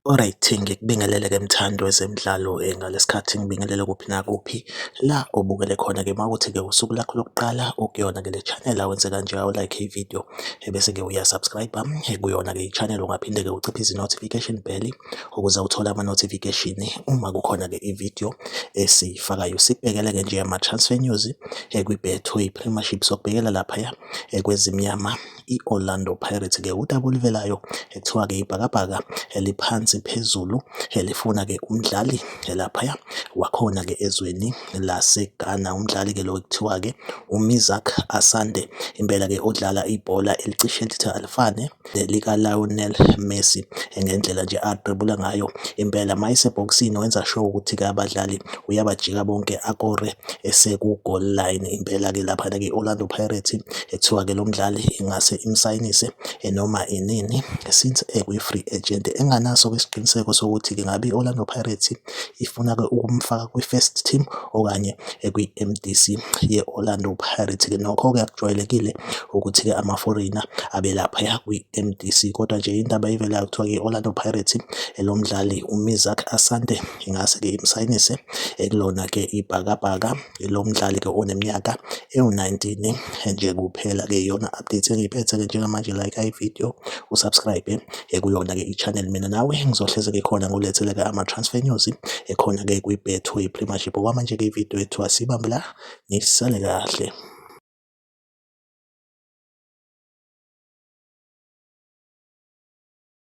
Alright, ngikubingelele-ke mthandi wezemidlalo eh, ngalesikhathi ngibingelele kuphi nakuphi la obukele khona-ke uma kuthi-ke usuku lakho lokuqala ukuyona-ke le channel awenze kanje awu-like ividiyo ebese-ke uya-subscribe-a kuyona-ke i-channel ungaphinde-ke uciphe izi-notification bell ukuze uthole ama-notification uma kukhona-ke ividiyo esiyifakayo sibhekele-ke nje ama-transfer news kwi-betway premiership sokubhekela laphaya kwezimnyama i-Orlando Pirates-ke udaba oluvelayo kuthiwa-ke ibhakabhaka eliphansi phezulu elifuna-ke umdlali laphaya wakhona-ke ezweni laseGhana. Umdlali-ke lo kuthiwa-ke uMizak Asante, impela-ke odlala ibhola elicishe lithi alifane lelika-Lionel Messi ngendlela nje adwebula ngayo. Impela uma esebhokisini wenza sure ukuthi-ke abadlali uyabajika bonke akore eseku-goal line. Impela-ke laphana-ke i-Orlando Pirates Kuthiwa-ke lo mdlali ingase imsayinise noma inini since ekwi-free agent. Enginganaso-ke isiqiniseko sokuthi ngabe i-Orlando Pirates ifuna-ke ukumfaka kwi-first team okanye ekwi-M_D_C ye-Orlando Pirates-ke. Nokho-ke akujwayelekile ukuthi-ke ama-foreigner abe laphaya kwi-M_D_C kodwa nje indaba evelayo kuthiwa-ke i-Orlando Pirates lo mdlali u-Asante ingase-ke imsayinise ekulona-ke iBhakabhaka. Lo mdlali-ke oneminyaka ewu-nineteen nje kuphela-ke iyona update engiyiphethe-ke njengamanje like ividiyo u-subscribe-e ekuyona-ke i-channel. Mina nawe ngizohlezi-ke khona ngikuletheleke ama-transfer news ekhona-ke kwi-Betway Premiership. Okwamanje-ke ividiyo yethu asiyibambe la, nisale kahle.